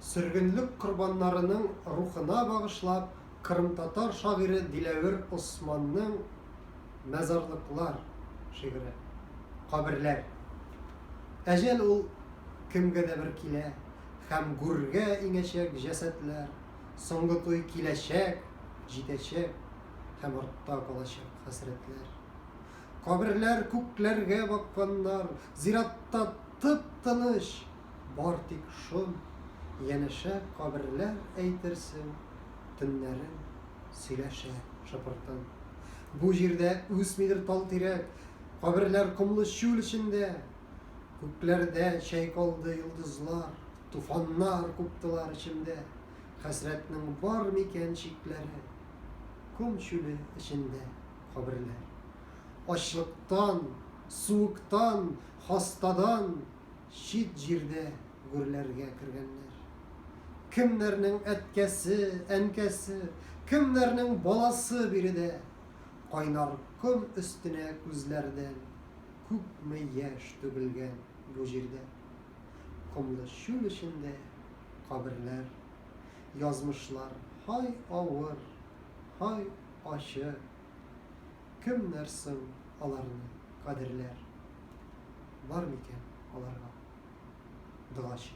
Сөргенлек корбаннарының рухына багышлап, кырымтатар шагыйре Диләвер Османның Мәзарлыклар шигыре. Каберләр. Әҗәл ул кемгә дә бер килә, Һәм гүргә иңәчәк җәсадләр, Соңгы туй киләчәк, җитәчәк, Һәм артта калачак хәсрәтләр. Каберләр күкләргә бакканнар, Зиратта тып-тыныч. Бар тик шом, янәшә каберләр Әйтерсең, төннәрен сөйләшә шыпыртын. Бу җирдә үсмидер тал тирәк, Каберләр комлы чүл эчендә. Күкләрдә чайкалды йолдызлар, Туфаннар куптылар эчемдә. Хәсрәтнең бар микән чикләре? Ком чүле эчендә каберләр. Ачлыктан, суыктан, хастадан. Чит җирдә гөрләргә кергәннәр. Кемнәрнең әткәсе, әнкәсе, кемнәрнең баласы биредә. Кайнар ком өстенә күзләрдән күпме яшь түгелгән бу җирдә. Комлы чүл эчендә каберләр. Язмышлар һай авыр, һай ачы Кемнәр соң аларны кадерләр? Бар микән аларга догачы?